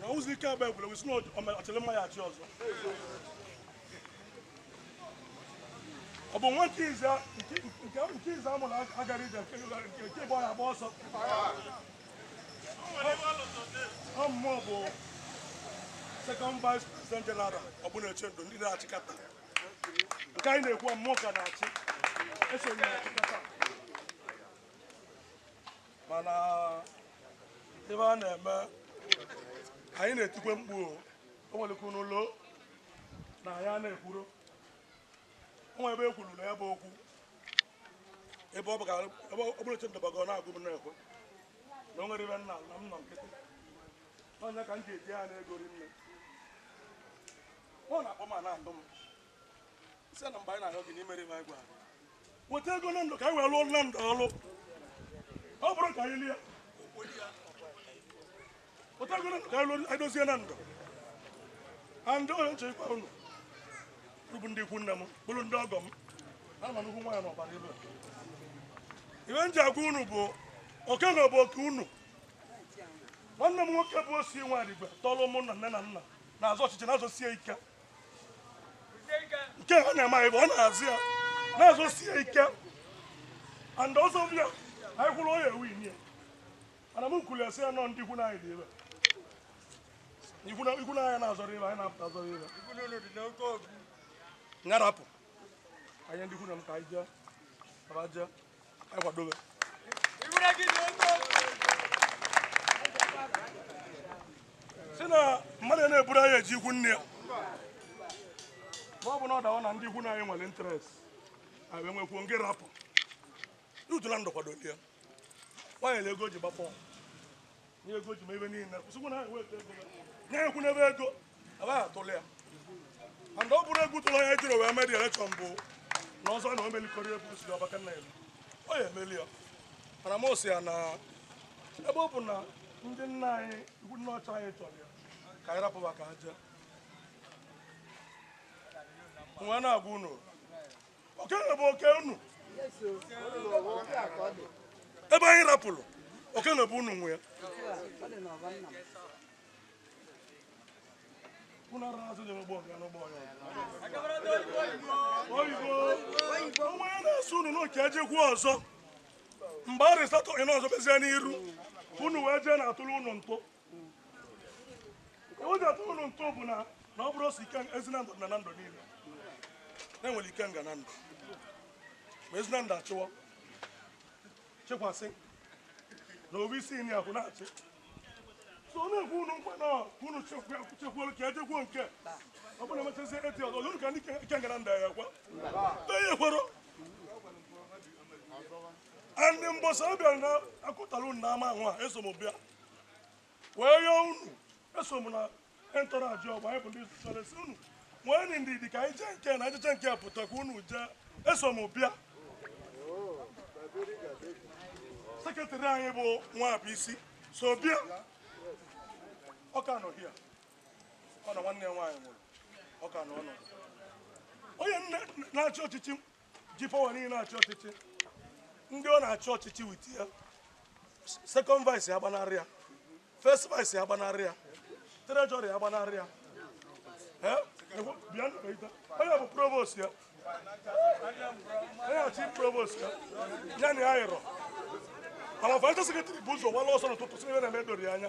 na ụzọ ike agba egwuregwu sị na ọ chịrị mma ya achị ọzọ ọ bụ nwa nke ize nke ize a mụrụ agara ije nke ịgba ya agba ọsọ ọ mụwa bụ second vice president general Ogbunechendo ndị na-achịkọta nke anyị na-ekwu mụwa ka na-achị eso m na-achịkọta mana ive a na-eme anyị na-etikwe mkpu o nwelekwu n'ụlọ na ya na-ekwuru o nwere ebe e kwuru na ya bụ okwu ebe Ogbunechendo bago na-agụ m na-ekwe na o nwere ive nna na m nọ nkịtị onye ka m ji eji ya na-egori nne ọ na-akpọ m na-adụ m weta ego na ndụ ka anyị wee lụọ na ndụ ọlụ ọ bụrụ ka anyị lie weta ego na ndụ ka anyị lụọ edozie na ndụ and onye nche ikwa unu bụ ndị ikwu nne m bụrụ ndị ọgọ m na ma nnukwu nwaanyị n'ọbara ive ive m ji agwa unu bụ oke a bụ oke unu nwanne m nwoke bụ Osi Nwadigwe tọrọ mụ na nne na nna na-azọ ọchịchị na-azọsie ike nke ha na-eme anyị bụ ọ na-azọ ya na-azọsi ya ike and ọzọ bụ ya anyị kwụrụ onye ewu inye mana m kwuru sị ya na ndị ikwu nne anyị dị ebe ikwu nne anyị na-azọrọ ebe anyị na-apụta azọrọ ebe m ga-arapụ anyị ndị ikwu nne m ka anyị jee sị na mmadụ na-eburu anyị eje ikwu nne ya ma ọ bụ na ọ dawa na ndị ikwu nne anyị nwere interest anyị enwekwuo ngị rapụ n'utula ndụ kwadoli ya nwaanyị na ego ji gbapọ Nye ego ji ma ebe niile. Kwụsịkwa na ha eweta ego. Nye ekwu n'ebe ego. Aba atụlụ ya. And ọ bụrụ egwu tụlụ ya jiri wee mee dị election bụ na ọzọ na o melikọrọ egwu si ọbaka nna ya. Ọ ya emeli ya. Mana m sị ya na ebe ọ bụ na ndị nna anyị ikwu nna ochie anyị chọrọ ya ka anyị rapụba ka ha jee. M wee na-agwa unu oke a bụ oke unu ebe anyị rapụrụ oke a bụ unu nwe ya Kuna raha zote mabonga no boyo. Oyibo. Onwe ya na-asụ unu n'oke ejekwu ọzọ. Mgbe arịsatọ ị n'ọzọ bezie n'iru. Unu wee jee na-atụrụ unu ntụ. o ji atụrụ unu ntụ bụ na na ọ bụrụ o si ike Ezi Nando na Nando niile na e nwere Ikenga Nando ma Ezi Nando achịwa chekwasị na ọ bụ Isinyi ahụ na-achị so ọ na-ekwe unu nkwa na ọ ka unu chekwa- chekwuo ka ejekwuo nke ọ bụrụ na emechazi eti ọzọ unu ka ndị ike- Ikenga Nando ya ekwe onye kwero ndị mbọsị ọ bịara na akụtara unu n'ama ahụ a eso m bịa wee yọọ unu eso m na entourage ọgba anyị bụ ndị sosere sị unu nwee ndidi ka anyị jee nke na ejeche nke pụta ka unu jee eso m bịa secretary anyị bụ Nwabuisi so bịa ọ ka nọ here ọ na nwanne ya nwaanyị nwụrụ ọ ka nọ ọnọdụ onye nne na-achị ọchịchị ji power niile na-achị ọchịchị ndị ọ na-achị ọchịchị with ya second vice ya gbanarị ya first vice ya gbanarị ya treasurer ya gbanarị ya Eh? Ekwe- bịa nụ ka ị taa. onye bụ provost ya onye chief provost ya ya na ya yịrọ mana vice secretary bu ụzọ wala ọsọ n'ụtụtụ sị na ife a na-eme edoro ya anya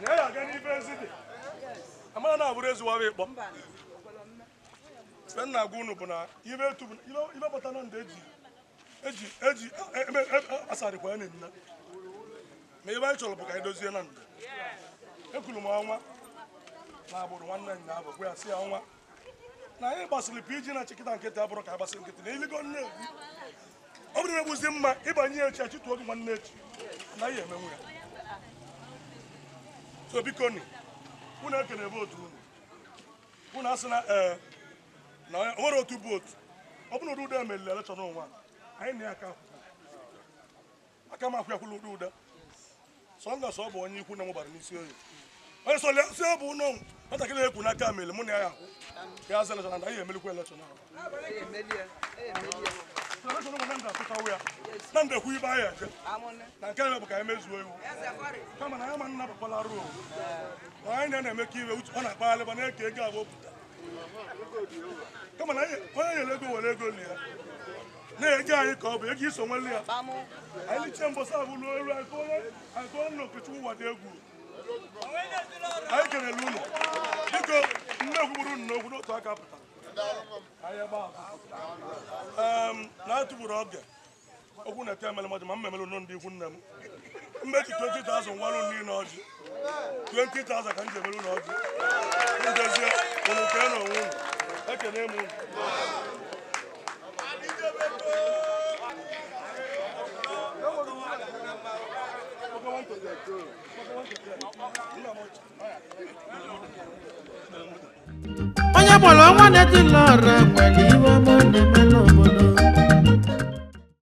na ya aga n'ife ezi dị amara na abụrụ ezuwara ịkpọ ife m na-agwa unu bụ na ife etu bụ ife bata na ndị eji eji eji asarịkwa ya na nna ma ife anyị chọrọ bụ ka anyị dozie Nando ekwuru m ọnwa na Agbudu nwanne nna abụ gwa ya sị ya ọnwa na anyị gbasịrị PG na chikịta nkịtị abụrụ ka agbasị nkịtị na iligo nne ọ bụrụ na-egbuzi mma ịbanye ya echi achịtụ oge nwanne echi na ihe emenwu ya so biko ni unu ekene vootu unu unu asị na ee na o nwere otu vootu ọ bụrụ na ụdị ụdị emelile election onwe anyị na ya ka akwụkwọ aka ma akwụkwọ ụdị ụda sọnda sọ bụ onye ikwu nne m Ubarunisioye onye sọ lesi ọ bụ ụlọ nwatakịrị ekwu na aka mere mụ na ya akwụ ya azọ election na anyị emelikwa election ahụ na ndekwu ibe anyị eje na nke na bụ ka anyị mezuo iwu kama na ya ma nna bakwala ruo na anyị na na-eme ka iwe ọ na-akpagharị ba na-eke ego abụọ pụta kama na onye nyere ego were ego li ya na-ege anyị ka ọ bụ ego iso nwere ya anyị liche mbọsa bụ ruo eru anyị tụọ nna Okechukwu Ụwadiegwu anyị kelele unu biko nne kwugburu unu n'okwu n'otu aka pụta na-atụgburu oge okwu na-ete emere mmadụ ma m memere ụlọ ndị ikwu nne m mmechi 20,000 ngwalụ nri na ọjị 20,000 ka m ji emelu unu ọjị ndị eze unu kee na onwe unu ekene m unu onye gbara ọnwa na-etili ọra nwere ihe ọma ọ na-eme n'obodo